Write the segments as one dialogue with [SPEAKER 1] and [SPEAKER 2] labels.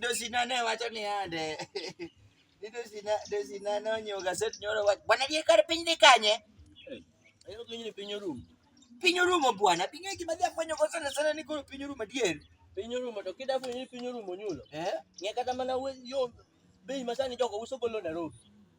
[SPEAKER 1] dosinane wacho ni ande dosinane onyiewo gaset nyoro wach bwana die kar piny dhi kanye
[SPEAKER 2] piny orumo piny orumo
[SPEAKER 1] bwana piny gima dhi afwenyo go sana sana ni koro piny orumo adier piny orumo to kida
[SPEAKER 2] fwenyo ni piny orumo nyulo eh? ng'e kata mana
[SPEAKER 1] yo
[SPEAKER 2] bei masani jogo uso golo Nairobi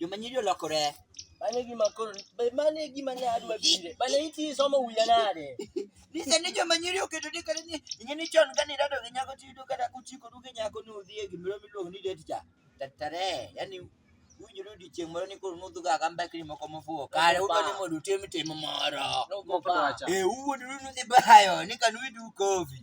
[SPEAKER 1] Joma nyiri olokore. Mano e gima koro
[SPEAKER 2] mano e gima ne adwa bire. Mano iti somo wiya nade? Ni sani joma
[SPEAKER 1] nyiri oketo ni kare ni ing'e ni chon kane irado gi nyako tiyudo kata kuchiko du gi nyako ni udhi e gimoro miluongo ni date cha. Tatare, yani winjore odiechieng' moro ni koro nudhuga ka mbekni moko mofuwo kare udwa ni mondo utim tim moro. Nogo Moko pa. dwacha. Eh, uwuondru nudhi bayo ni kanu idhi ukofi.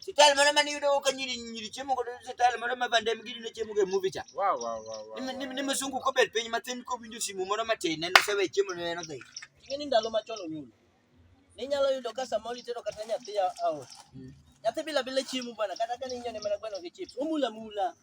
[SPEAKER 2] Style moro
[SPEAKER 1] mane yudo ka nyiri nyiri chiemo godo style moro ma bande mi gidundo chiemo go e movie cha. Wow wow wow. wow. Ni ni msungu ko bet piny matin ko winjo simu moro matin en osewe chiemo ne en odhi. Ing'eni ndalo machon
[SPEAKER 2] onyulo. Ninyalo yudo ka samoro itero kata nyathi a- aot. Nyathi bila bila chiemo bwana kata ka ninyone mana gweno gi chips. Omula mula.